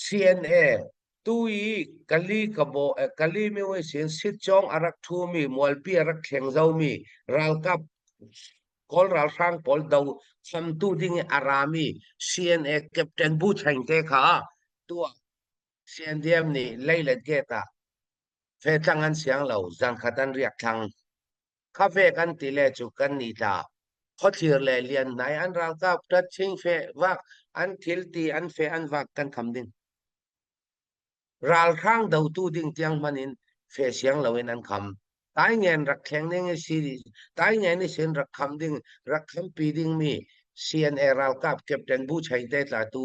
CNA tu i Kali Kabaw eh, Kali Myoe sin sit cawng a rak ṭhumi mualpi a rak thleng zomi ralkap Kawl ralhrang pawl do khamtu ding i a rami CNA Captain Bu Chaing te kha tuah CNDM nih leilet gate ah fetlang an siang lo zankhat an riak thlang. khafe kan ti le cu kan ni tla khothlir le lian nai an ralkap tat ching fe vak an thil ti an fe an vak kan kham ding ralhrang do tu ding tiang man in fe siang lo in an kham tai ngen rak thleng ding si tai ngen ni sin rak kham ding rak kham pi ding mi CNA ralkap captain bu chai te tla tu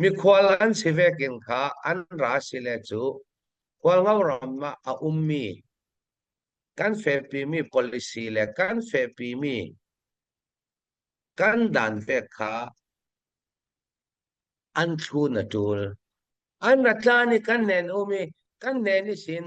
Mikhual an si ve king kha an ra sile cu khualngo ram ah a ummi kan fepimi policy le kan fepimi kan dan pek kha an thlu na tul. An ra tlan i kan nen um i kan nen i sin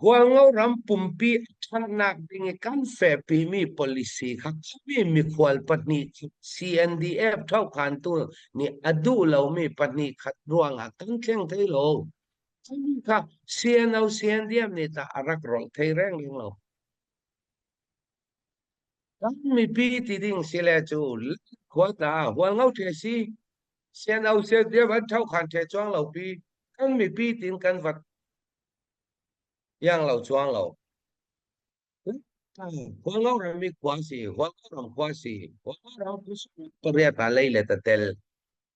Hualngo ram pumpi a ṭhatnak ding i kan fehpimi policy kha khammi mikhual pahnih khi CNDF thokhantu nih a duh lomi pahnih khat ruangah kan thleng thai lo. Kami kha CNO CNDF nih tah a rak rawlh thai reng lo. Kan mipi ti ding si le cu hual ta hual ngau ṭhe si sian au sian dia van thau khan ṭhe chuang lo pi kan mipi tin kan vat yang lo chuang lo hual ngau ram mi khua si hual ngau ram khua si hual ngau ram pariat pa lei le tatel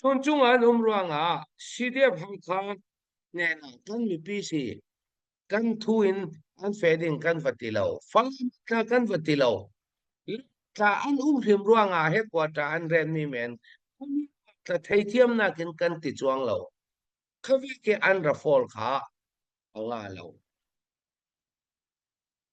Chunchung ah an um ruangah CDF Hakha hnen ah kan mipi si kan thu in an feh ding kan va ti lo. Falam tla kan va ti lo. Tla an um hrim ruangah he quarter an ren mi men tla theithiam nak in kan ti chuang lo. Khavi ke an ra fall kha a nga lo.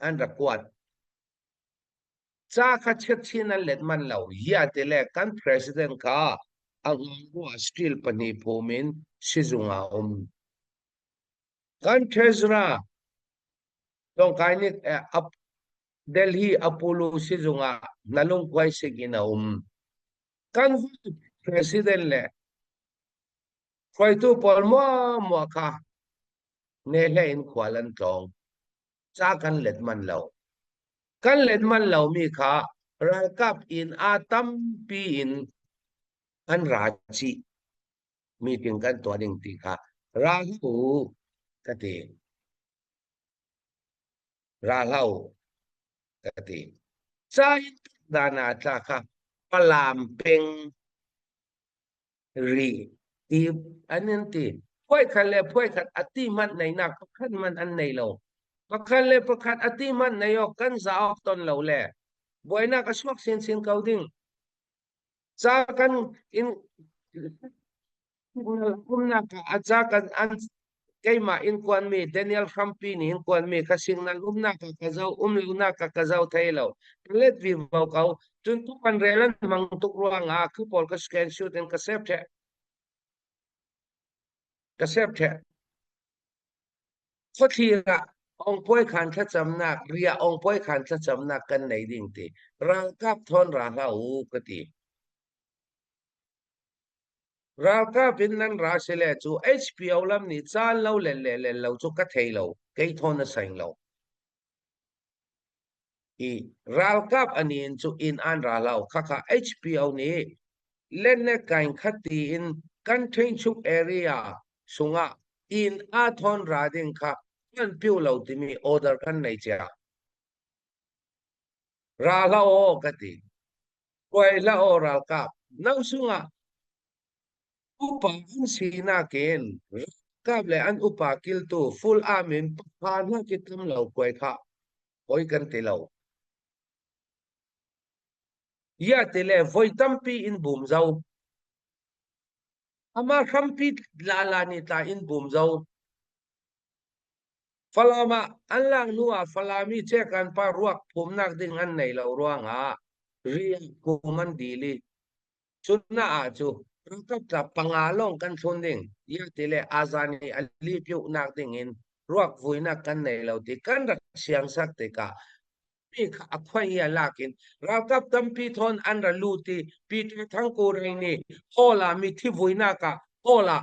an rak kuat. Ca kha chiatchin an let manh lo. Hiate le kan president kha a ngangua steel pahnih phum in sizung ah um. Kan treasurer Tongkai nih Delhi Apollo sizung ah nalungkuai sik in a um. Kan president le hruaitu pawl mua mua kha ne hle in khual an tlawng. ca kan let manh lo kan let manh lomi kha ralkap in a tampi in kan ra chih meeting kan tuah ding ti kha ra hlu ka ti ra hlau ka ti ca in dana tla kha palam peng ri ti an in ti puai khat le puai khat a ti hmanh neinak pakhat hmanh an nei lo pakhat le pakhat a ti hmanh nei awk kan za awk ton lo le buainak a suak sin sin ko ding ca kan in umnak a ca kan an keimah in kuanmi Daniel hrampi nih hin kuanmi ka singnal umnak ka ka zo um lonak ka ka zo thei lo let vi mo ko cun tu kan relan mang tuk ruang ah khi pol ka scan shoot in ka sep the ka sep the kho thlira ong poi khan tha chamnak ria ong poi khan tha chamnak kan nei ding ti rangkap thon ra hla u ka ti Ralkap in nan ra si le cu HPO lam nih caan lo len le len lo cu ka thei lo. Kei thawn a seng lo. I ralkap ani in cu inn an ra lo. Khakha HPO nih lenne kain khati in kan ṭhingchuk area sungah inn a thawn ra ding kha kan piu lo timi order kan nei cia. Ra hla aw ka ti. Puaihlah aw ralkap, nausung ah upa an sinak in ralkap le an upa kiltu full arm in pha hna ki tam lo kuai kha oi kan ti lo. Ia te le voi tampi in bum zo. Ama hrampi la la ni ta in bum zo. Falam ah an lak hnu ah Falam i Cekan pa ruak phumnak ding an nei lo ruangah riah phum an dil i cuna ah cu ralkap tla panga lawng kan thlun ding ia ti le azan i a li piuhnak ding in ruak vuinak kan nei lo ti kan rak siangsak tikah mi kha a khuai a lak in ralkap tampi thon an ra lut i Peter Thangkure nih hall ah mithi vuinak ah hall ah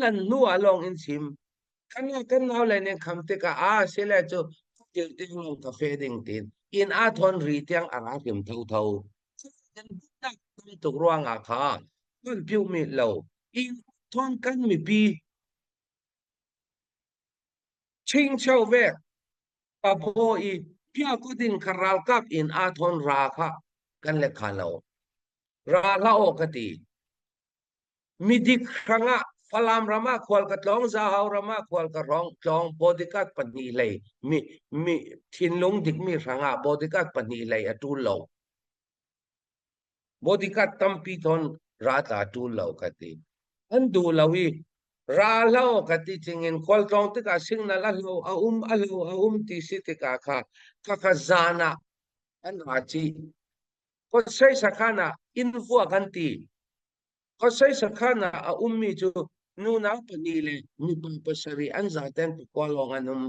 Kan nu a lawng in chim. Kan kan naule nih kham tikah ah sile cu kil ding lo ka fe ding tin in a thon ri tiang a ra kim tho tho. Dinnak tam tuk ruangah kha kan piu mit lo. In thon kan mipi ching chau ve papo i pia ko din karal kap in a thon ra kha kan le kha lo. Ra la o ka ti. Midik hrang ah Falam ram ah khual ka tlawng, Zahau ram ah khual ka rawng, tlawng Bodyguard pahnih lei mi mi thinlung dikmi hrang ah Bodyguard pahnih lei a ṭul lo. Bodyguard tampi ton rat a ṭul lo ka ti. An duh lo i ra lo ka ti tingin khual tlawng tikah signal a lo a um a lo a um ti si tikah kha ka ka zan ah an ra ci Khuasai sakhan ah innhua kan ti. Khuasai sakhan ah a ummi cu nunau pahnih le mipa pasarih an zaten pakua lawng an um.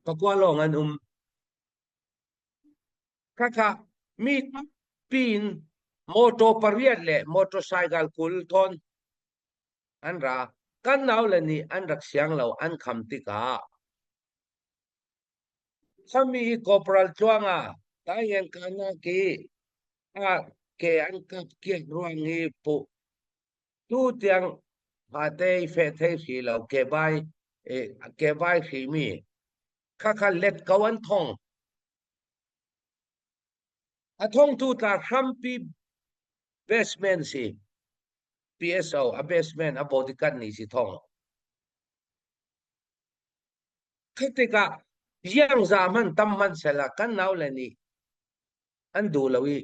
Pakua lawng an um. Khakha mi pin motor pariat le motorcycle kul thon an ra. Kan nau le nih an rak siang lo an kham tikah Sami hi Corporal tluang ah tai an ka nak i a ke an ka kiat ruang hi puh tu tiang phate fe thei hri lo ke bai ke bai hri mi kha kha let ko an thong a thong tu ta hrampi basement si PSO a basement a bodyguard ni si thong Khi tikah ziangza hmanh tam hmanhsehlaw kan naule nih an duh lo i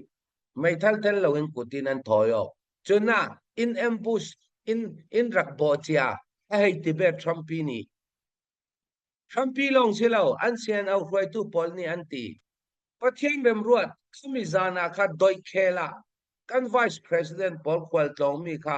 meithal tel loin kut in an thawi awk. Cun ah in ambush in in rak bawh cia a hei ti bet Trumpi nih. Trumpi lawng si lo an CNO hruaitu pawl nih an ti. Pathian remruat khami zan ah kha doih khel ah kan vice president pawl khual tlawngmi kha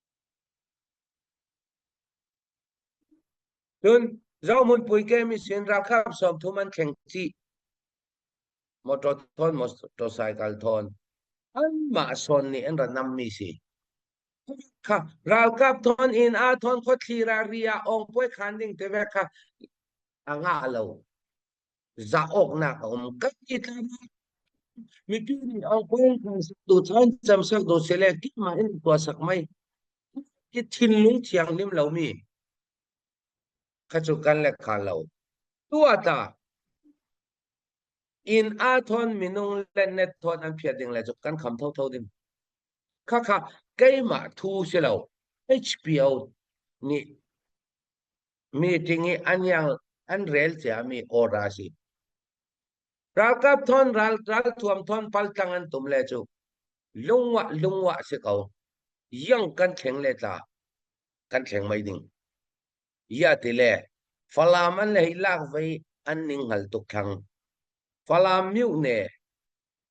Cun Zohmun puike mission ralkap sawmthum an thleng chih. Motor thon, motorcycle thon. Anmah son nih an ranam mi si. Kha ralkap thon in a thon khawthli ra ria ong puai khan ding te ve kha a nga lo. zah awknak a um kan i tlak mipi nih angkong kan saktu chan cam saktu sele kima in tua sak mai ki thinlung thianghlim lomi khachu kan le kha lo tua ta in a thon minung le net thon an phia ding le chu kan kham tho tho ding kha kha keimah thu si lo hpo nih meeting i an yang an rel ciami ora si. Ralkap thon ral ral thuam thon paltlang an tum le cu lungwa lungwa si ko yang kan thleng le tla kan thleng mai ding ya ti le falam an le lak vei an ning hal tuk thang falam miu ne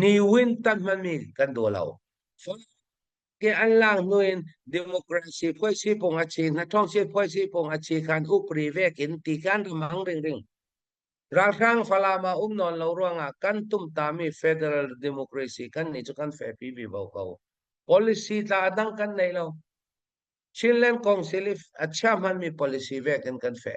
Ni win tan hmanmi kan daw lo. Ke an lang nuin democracy phoi si pong a chi, na thong si phoi si pong a chi kan upri vekin ti kan ramang ring ring. Ralhrang falama um non lo ruangah kan tum tami federal democracy kan ni chu kan fe pi bi bo ko. Policy tla dang kan nei lo. Chinland Council if a chia hmanmi policy vekin kan fe.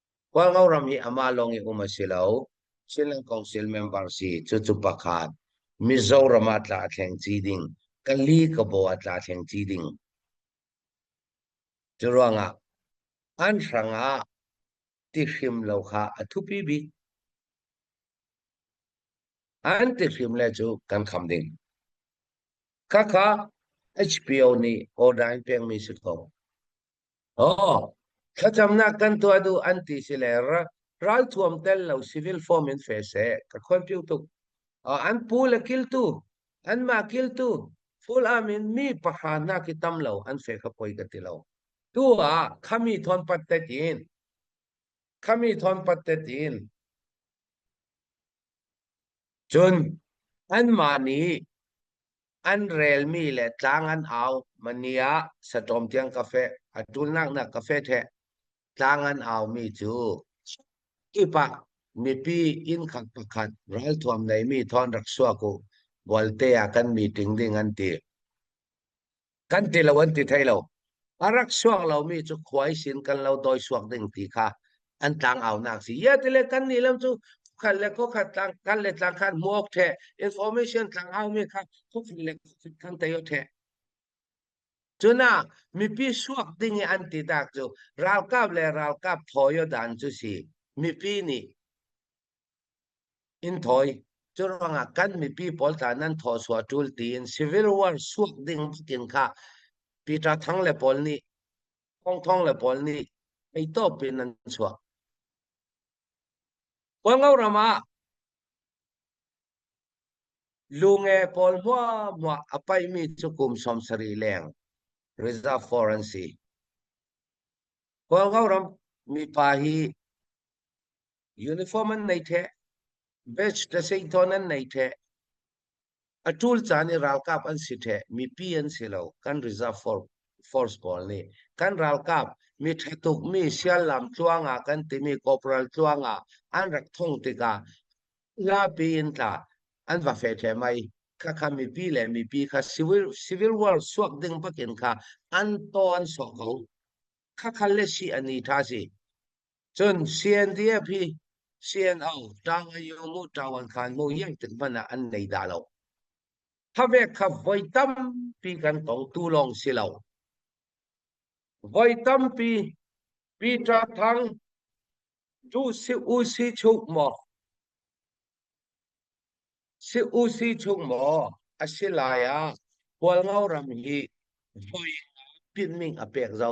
Khualngo ram hi amah lawng i um a si lo. Chinland Council member si cucu pakhat Mizoram ah tla a thleng ci ding Kali Kabaw ah tla thleng ci ding cu ruangah an hrang ah ti hrim lo kha a thupi bik an ti hrim le cu kan kham ding khakha HBO nih Odain pengmi si ko Oh, thlacamnak kan tuah duh an ti si le ra- ralthuam tel lo civil form in fe seh ka khon piu tuk. Uh, an pu le kiltu, anmah kiltu, full arm in mi pahra nak i tam lo an fe kha poi ka ti lo. Tu ah khami thon pat tet in, khami thon pat tet in, cun anmah nih An relmi le tlang an au. Mani ah satawm tiang cafe, a tulnak nak cafe the tlang an aumi cu kip ah mipi innkhat pakhat ralthuam neimi thon rak suak u bualte ah kan meeting ding an ti. Kan ti lo an ti thei lo. a rak suang lomi cu khuai sin kan lo doi suak ding ti kha an tlangaunak si ya tile kan ni lam cu khat le khokhat tlang kan le tlang khan muok the information tlangau mi kha khokhat le khokhat kan tayo the cuna mipi suak ding i an ti tak cu ralkap le ralkap phoyo dan cu si mipi nih In thawi. Cu ruangah kan mipi pawl tla nan thawsuah ṭul tiin civil war suak ding tiin kha Peter Thang le pawl nih Thong Thong le pawl nih theitawp in an chuah. Kawlngo ram ah lunge pawl hmuahhmuah a paihmi cu kum sawm sarih leng reserve for an si. Kawlngo ram mipa hi uniform an nei the badge ta sei thon an nei the a tul caan i ralkap an si the mipi an si lo kan reserve force force pawl nih kan ralkap mi ṭha tuk mi siallam tluang ah kan timi corporal tluang ah an rak thong tikah lapi in tla an va fe the mai kha kha mipi le mipi kha civil civil war suak ding pakin kha an to an sok ko kha kha le si ani tha si Cun sian ti a phi sian au tang a yung mu tawan khan mu yek tin hmana an nei da lo. Thawek kha voi tampi kan tong tu lawng si lo. Voi tampi Peter thang chu si u si chuk mo si u si chung maw asilaya pual ngau ram hi voi pin ming a pek zo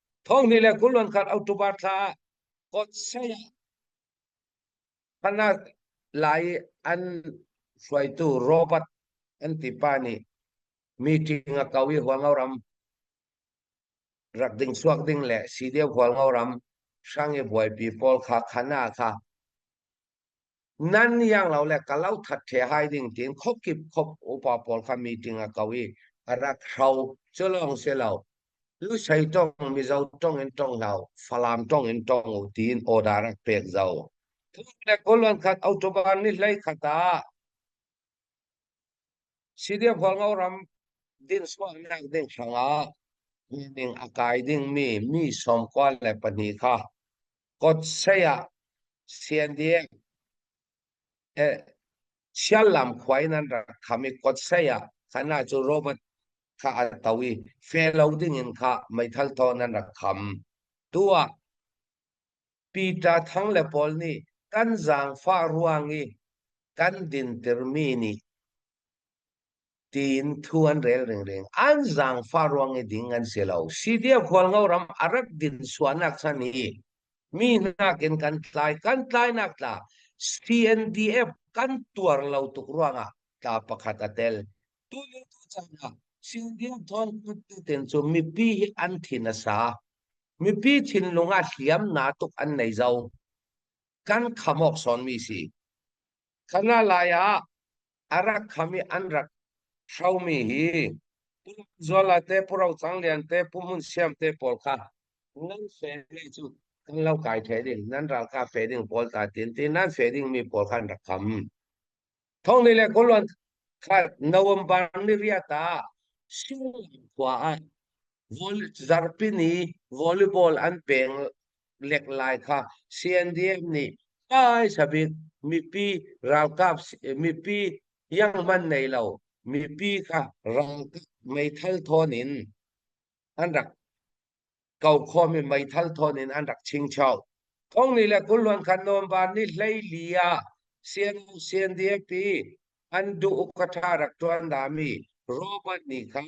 Thonghnih le kul an khat October thla ah kot saya Hana Lai an hruaitu Robert an tipa nih meeting a kau i hualngo ram rak ding suak ding le si deu hualngo ram hrang i buaipi pawl kha khana kha nan niang lo le ka lo that the hai ding tin khop kip khop upa pawl kha meeting a kau i a rak hro cu lawng si lo lu sei tong mizo tong in tong lo falam tong in tong u tin order rak pek zo le kolon khat autoban ni hlei khata sidia pholngo ram din so nak ding hranga ning akai ding mi mi som kwa le pani kha Kot saya Sian Ding siallam khuai nan rak kham i kot saya khana cu Robert kha a to i fe lo dingin kha meithal thaw nan rak kham tu ah Peter Thang le pawl nih kan zaangfah ruang i kan dintirmi nih tiin thu an rel ringring. An zaangfah ruang i ding an si lo. Sitia khualngo ram a rat din suanak chan i mi nakin kan tlai kan tlainak tla CNDF kan tuar lo tuk ruangah tla pakhat a tel. Tu le tu caan ah CNDF thawngput tetin cu mipi hi an thin a sa. Mipi thinlung ah hliam na tuk an nei zo. Kan khamawk sawnmi si. Kha nga lai ah a rak kham i an rak hromi hi Zuala te Puro Canglian te Pu Mun Siam te pawl kha nan fe ding cu an lo kai fe ding nan ralkap fe ding pawl ta tin ti nan fe ding mi pawl kha an rak kham thong ni le koluan kha November ni ria ta Singlam khua ah vol zarpi ni volleyball an peng lek lai kha CNDF nih taisa bik mipi ralkap mipi yangman nei lo mipi kha ralkap meithal thawn in an rak kau khomi meithal thawn in an rak chingchau kong ni le kulluan khan november ni hlei lia CNDF an duh ukatha rak tuan dami Robert nih khan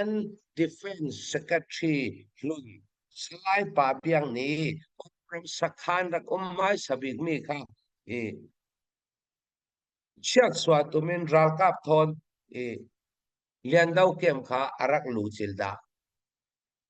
An defense secretary hlun Salai Pa Piang nih Congress sakhan rak um hai sabik mi kha i chiat suwa tumin ralkap thawn i lian do kem kha a rak lu cil dah.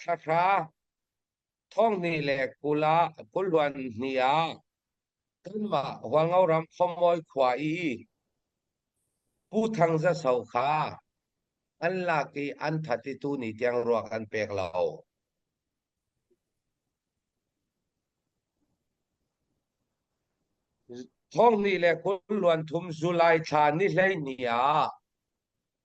Thlahra thonghnih le kul ah kuluan hnih ah kanmah Hualngoram Khawmawi khua i Pu Thang Za So kha an lak i an that i tuni tiang ruak an pek lo. Thonghnih le kul luan thum July thla ni hlei ni ah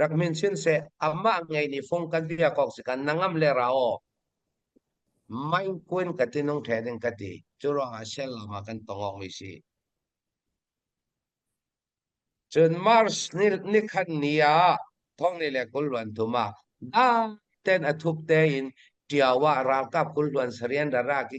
rak min sin se amah ngei ni fung kan bia kok si kan nangam le ra o main kuin ka ti nung the ding ka ti chu ro a sel lama kan tongok mi si cun mars ni ni khan ni a thong ni le kul luan thuma da ten athup te in tiawa ralkap kul luan sarian rara ki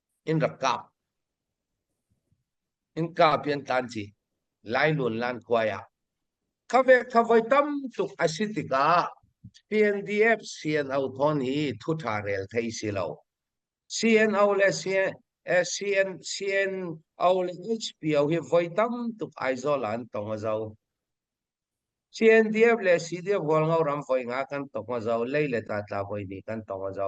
in rak kap in ka pian tan ci lai lun lan kuai ah khawe khavoi tam tuk asi tikah PNDF CNO thon hi thu tha rel thei si lo CNO le CN CNO le HPO hi voi tam tuk aizawl an tong a zo CNDF le CDF wal ngau ram voi nga kan tong a zo lei le ta tla voi ni kan tong a zo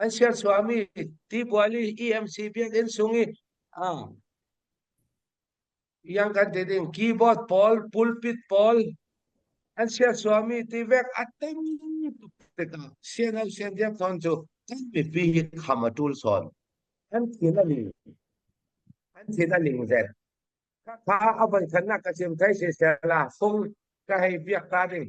an sian suami tibuali EMC biakinn sung i ah yang kan te ding keyboard pawl pulpit pawl an sian suami tivek atem tikah sian au sian diam ton cu kan mipi hi kham a tul son an thin a ling an thin a ling zet ka kha a van khanna ka chim kai se sela sung ka hei biak ka ding